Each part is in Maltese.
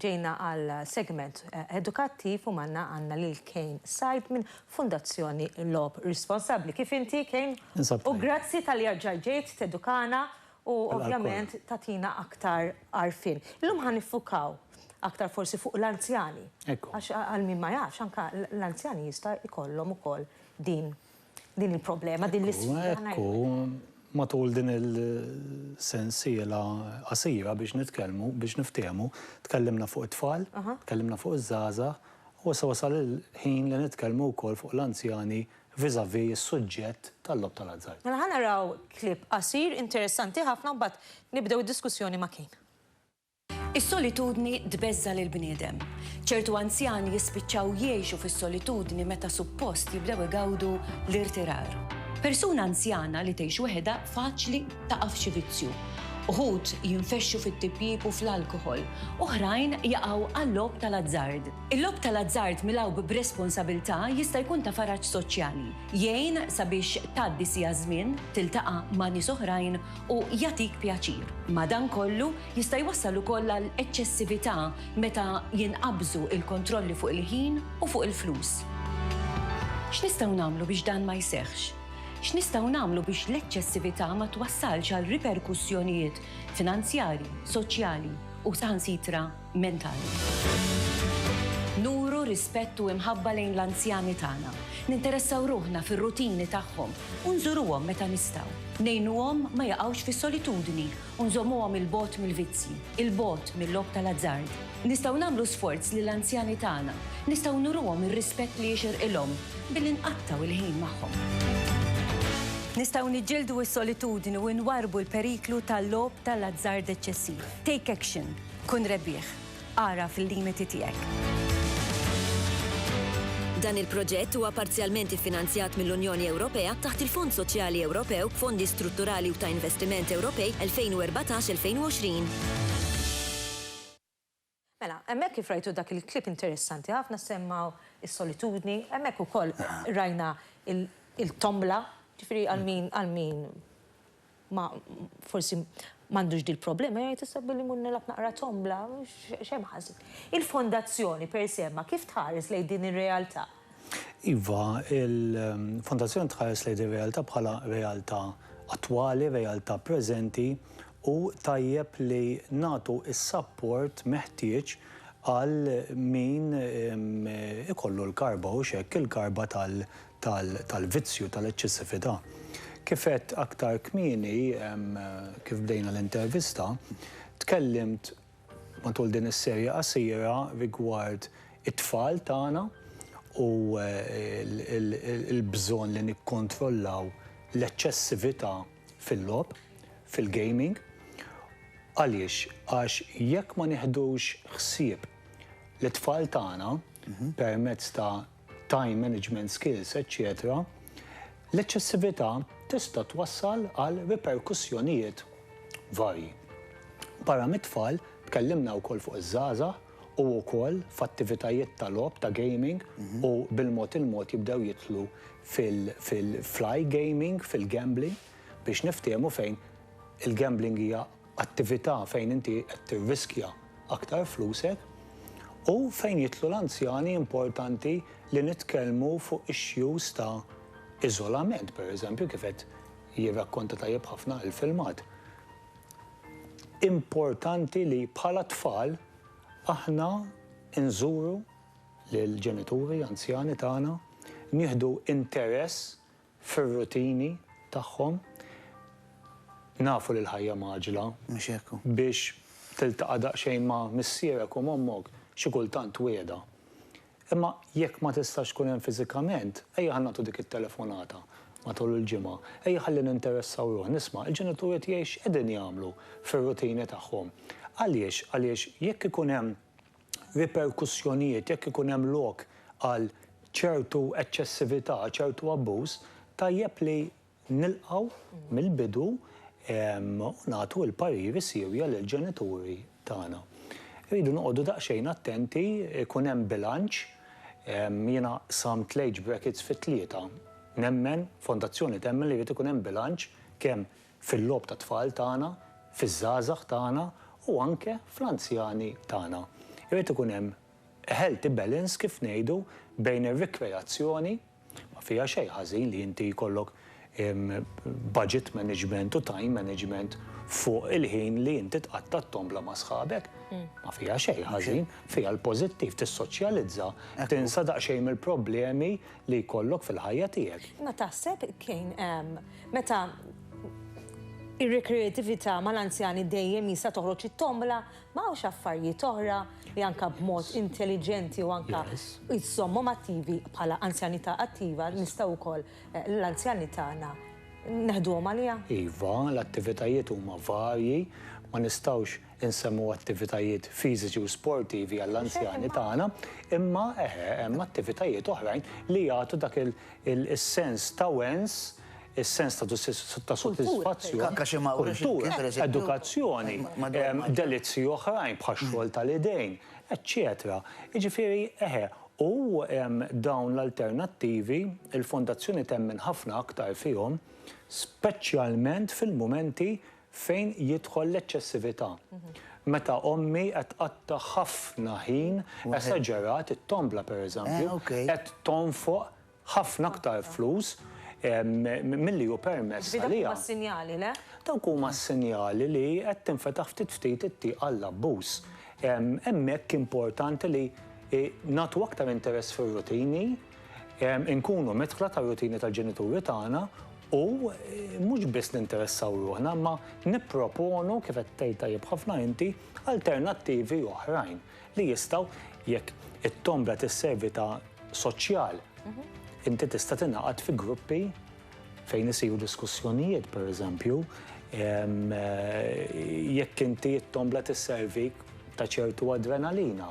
Ġejna għal segment edukattiv u magħna għandna lil Kane Said minn Fundazzjoni Logħob Responsabbli. Kif inti Kane? Ninsab tajjeb. U grazzi talli erġajt ġejt tedukana u ovvjament tagħtina aktar għarfien. Illum ħa niffukaw aktar forsi fuq l-anzjani. Ekku. Għax għal min ma jafx anka l-anzjani jista' jkollhom ukoll din Din il-problema, din l-isfida. Ekku, matul din il-sensiela qasira biex nitkellmu, biex niftiehmu, tkellimna fuq it-tfal, tkellimna fuq iż-żgħażagħ, u issa wasal il-ħin li nitkellmu wkoll fuq l-anzjani vis-à-vis is-suġġett tal-logħob tal-azzard. Mela ħa naraw clip qasir interessanti ħafna u mbagħad nibdew id-diskussjoni ma' Kane. Is-solitudni tbeżża' lill-bniedem. Ċertu anzjani jispiċċaw jgħixu fis-solitudni meta suppost jibdew igawdu l-irtirar. Persuna anzjana li tgħix weħidha faċli taqa' f'xi vizzju. Uħud jinfexxu fit-tipjip u fl-alkoħol, oħrajn jaqgħu għal-logħob tal-azzard. Il-logħob tal-azzard milgħub b'responsabilità jista' jkun ta' faraġ soċjali, jgħin sabiex tgħaddi siegħa żmien, tiltaqa' ma' nies oħrajn u jagħtik pjaċir. Madankollu, Jista' jwassal ukoll għal eċċessività meta jinqabżu l-kontrolli fuq il-ħin u fuq il-flus. X'nistgħu nagħmlu biex dan ma jseħħx? X'nistgħu nagħmlu biex l-eċċessività ma twassalx għal riperkussjonijiet finanzjarji, soċjali u saħansitra mentali? Nuru rispett u imħabba lejn l-anzjani tagħna. Ninteressaw ruħna fir-rutini tagħhom u nżuruhom meta nistgħu. Ngħinuhom ma jaqgħux fis-solitudni u nżommuhom 'il bogħod mill-vizzji, 'il bogħod mil-logħob tal-azzard. Nistgħu nagħmlu sforz li l-anzjani tagħna, nistgħu nuruhom ir-rispett li jixirqilhom billi nqattgħu l-ħin magħhom. Nistgħu niġġieldu s-solitudni u nwarrbu l-periklu tal-logħob tal-azzard eċċessiv. Take action. Kun rebbieħ. Agħraf il-limiti tiegħek. Dan il-proġett huwa parzjalment iffinanzjat mill-Unjoni Ewropea taħt il-Fond Soċjali Ewropew, Fondi Strutturali u ta' Investiment Ewropej 2014-2020. Mela, hemmhekk kif rajtu dak il-clip interessanti ħafna semma s-solitudni, hemmhekk ukoll rajna il-tombola, ġifieri għal min, għal min, ma forsi m'għandux dil-problema, jgħid issa billi mmur nilgħab naqra tombla, x'hemm ħażin? Il-Fondazzjoni per se ma kif tħares lejn din ir-realtà? Iva, il-Fondazzjoni tħares lejn din ir-realtà bħala realtà attwali, realtà preżenti u tajjeb li nagħtu s-sapport meħtieġ għal min ikollu l-karba, hux hekk, il-karba tal-vizzju, tal-eċċessività. Kif għedt aktar kmieni, kif bdejna l-intervista, tkellimt matul din is-serje qasira rigward it-tfal tagħna u l-bżonn li nikkontrollaw l-eċċessività fil-logħob, fil-gaming. Għaliex? Għax jekk ma nieħdux ħsieb lit-tfal tagħna permezz ta' time management skills, eċċetera, l-eċċessività tista' twassal għal riperkussjonijiet varji. Barra mit-tfal, tkellimna wkoll fuq iż-żgħażagħ u wkoll f'attivitajiet ta' logħob, ta' gaming, u bil-mod il-mod jibdew jidħlu fil-iGaming, fil-gambling, biex niftiehmu fejn il-gambling hija attività fejn inti qed tirriskja aktar flusek u fejn jidħlu l-anzjani importanti li nitkellmu fuq issues ta' iżolament pereżempju kif qed jirrakkonta tajjeb ħafna il-filmat. Importanti li bħala tfal aħna nżuru lill-ġenituri anzjani tagħna, nieħdu interess fir-rutini tagħhom. Nafu li l-ħajja mgħaġġla. Mhux hekk hu. Biex tiltaqa' daqsxejn ma' missierek u m'ommok, xi kultant twiegħda. Imma jekk ma tistax tkun hemm fiżikament, ejja ħa nagħtu dik it-telefonata matul il-ġimgħa. Ejja ħalli ninteressaw ruħna. Isma', il-ġenituri tiegħi x'qegħdin jagħmlu fir-rutini tagħhom? Għaliex? Għaliex jekk ikun hemm riperkussjonijiet jekk ikun hemm lok għal ċertu eċċessività, ċertu abbuż, tajjeb li nilqgħu mill-bidu u nagħtu l-pariri siewja lill-ġenituri tagħna. Irridu noqogħdu daqsxejn attenti, ikun hemm bilanċ. Jiena samt l-age brackets fi tlieta. Nemmen, Fondazzjoni temmen li jrid ikun hemm bilanċ kemm fil-logħob tat-tfal tagħna, fiż-żgħażagħ tagħna u anke fl-anzjani tagħna. Irid ikun hemm a healthy balance kif ngħidu bejn ir-rikreazzjoni, ma fiha xejn ħażin li inti jkollok budget management u time management fuq il-ħin li inti tqatta' t-tombla ma' sħabek, ma fiha xejn ħażin, fiha l-pożittiv, tissoċjalizza, tinsa daqsxejn mill-problemi li jkollok fil-ħajja tiegħek. Imma taħseb kejn hemm meta ir-rekreatività mal-anzjani dejjem jista' toħroġ it-tombola ma hawnx affarijiet oħra li anke b'mod intelliġenti u anke jżommhom attivi bħala anzjanità attiva nistgħu wkoll eh, l-anzjani tagħna neħduhom għaliha? Iva, l-attivitajiet huma varji, ma nistgħux insemmu attivitajiet fiżiċi u sportivi għall-anzjani tagħna, imma eħe, hemm attivitajiet oħrajn li jagħtu dak is-sens ta' wens, is-sens ta' sodisfazzjon, kultura, edukazzjoni, delizzji oħrajn bħax-xogħol tal-idejn, eċċetera. Jiġifieri, eħe, u dawn l-alternattivi, il-Fondazzjoni temmen ħafna aktar fihom, speċjalment fil-mumenti Fejn jidħol l-eċċessività? Meta ommi qed tqatta' ħafna ħin, esaġerat, it-tombla pereżempju, qed tonfoq ħafna aktar flus milli hu permess għaliha. Ġifieri dawk huma s-sinjali, le? Dawk huma s-sinjali li qed tinfetaħ ftit ftit it-tieq għall-abbuż. Hemmhekk importanti li nagħtu aktar interess fir-rutini, Inkunu medħla tar-rutini tal-ġenituri tagħna u mhux biss ninteressaw ruħna imma nipproponu, kif qed tgħid tajjeb ħafna inti, alternattivi oħrajn li jistgħu jekk it-tombra tisservi ta' soċjal, inti tista' tingħaqad fi gruppi fejn isiru diskussjonijiet, pereżempju, jekk inti t-tombla tisservik ta' ċertu adrenalina.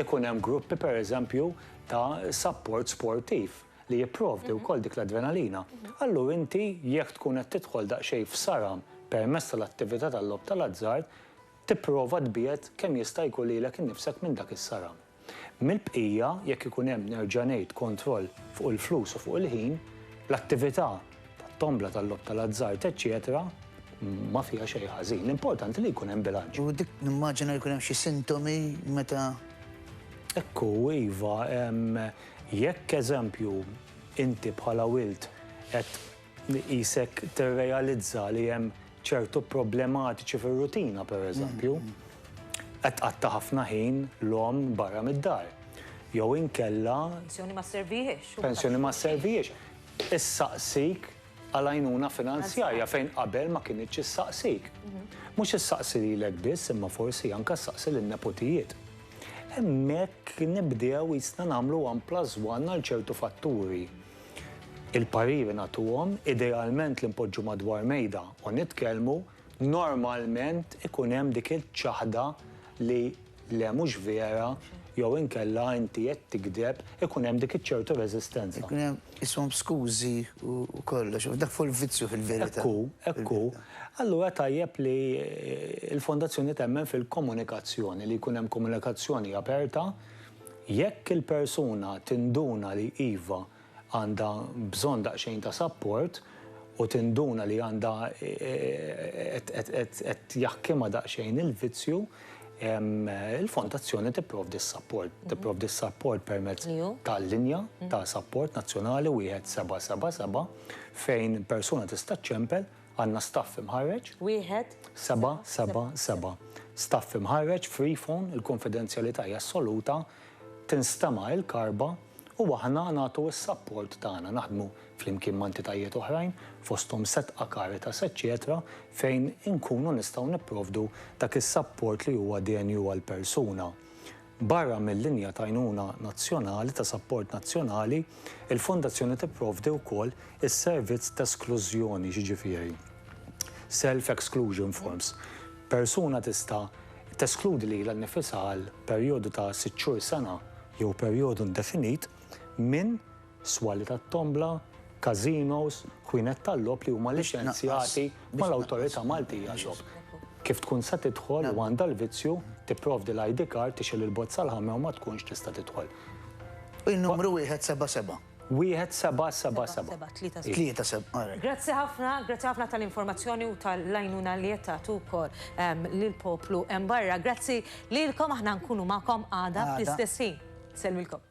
Ikun hemm gruppi, pereżempju, ta' sapport sportiv li jipprovdi wkoll dik l-adrenalina, allura inti jekk tkun qed tidħol daqsxejn f'saram permezz tal-attività tal-logħob tal-azzard, tipprova tbiegħed kemm jista' jkun lilek innifsek minn dak is-saram. Mill-bqija, jekk ikun hemm, nerġa' ngħid, kontroll fuq il-flus u fuq il-ħin, l-attività tat-tombla, tal-logħob tal-azzard, eċċetera, ma fiha xejn ħażin. L-importanti li jkun hemm bilanċ. U dik nimmaġina li jkun hemm xi sintomi meta. Hekk hu, iva. Jekk, eżempju, inti bħala wild qed qisek tirrealizza li hemm ċertu problematiċi fir-rutina, pereżempju, qed tqatta' ħafna ħin l-omm barra mid-dar, jew inkella. Pensjoni ma sservihiex. Pensjoni ma sservihiex. issaqsik għal għajnuna finanzjarja fejn qabel ma kinitx issaqsik. Mhux issaqsi lilek biss imma forsi anke ssaqsi lin-nepotijiet. Hemmhekk nibdew qisna nagħmlu one plus one għal ċertu fatturi. Il-pariri nagħtuhom, idealment li npoġġu madwar mejda u nitkellmu, Normalment ikun hemm dik iċ-ċaħda li le mhux vera jew inkella inti qed tigdeb, ikun hemm dik iċ-ċertu reżistenza. Ikun hemm ishom skużi u kollox, dak fu l-vizzju fil-verità. Hekk hu, hekk hu. Allura tajjeb li l-Fondazzjoni temmen fil-komunikazzjoni, li jkun hemm komunikazzjoni aperta. Jekk il-persuna tinduna li iva, għandha bżonn daqsxejn ta' sapport u tinduna li għandha qed jaħkimha daqsxejn il-vizzju, il-Fondazzjoni tipprovdi s-sapport. Tipprovdi s-sapport permezz tal-linja ta' sapport nazzjonali 1777 fejn persuna tista' ċċempel, għandna staff imħarreġ. Wieħed? Seba' seba' seba'. Staff imħarreġ, free phone, il-kunfidenzjalità hija assoluta, tinstema' il-karba. u aħna nagħtu s-sapport tagħna, naħdmu flimkien ma' entitajiet oħrajn, fosthom Setqa, Caritas, eċċetera, fejn inkunu nistgħu nipprovdu dak is-sapport li huwa denju għall-persuna. Barra mil-linja t'għajnuna nazzjonali, ta' sapport nazzjonali, il-Fondazzjoni tipprovdi wkoll is-servizz t'esklużjoni, jiġifieri self-exclusion forms. Persuna tista' teskludi lilha nnifisha għal perjodu ta' sitt xhur, sena, jew perjodu indefinit, minn swali tat-tombla, każinos, ħwienet tal-logħob li huma liċenzjati mal-Awtorità Maltija għal-Logħob. Kif tkun se tidħol u għandha l-vizzju, tipprovdi l-ID card, tixgħel il-bozza l-ħamra u ma tkunx tista' tidħol. Il-numru wieħed seba' seba'. Wieħed seba' seba' seba'. Seba' tlieta seba'. Tlieta seba', all right. Grazzi ħafna, grazzi ħafna tal-informazzjoni u tal-għajnuna li qed tagħtu wkoll lill-poplu hemm barra. Grazzi lilkom, aħna nkunu magħkom għada fl-istess ħin. Nsellmilkom.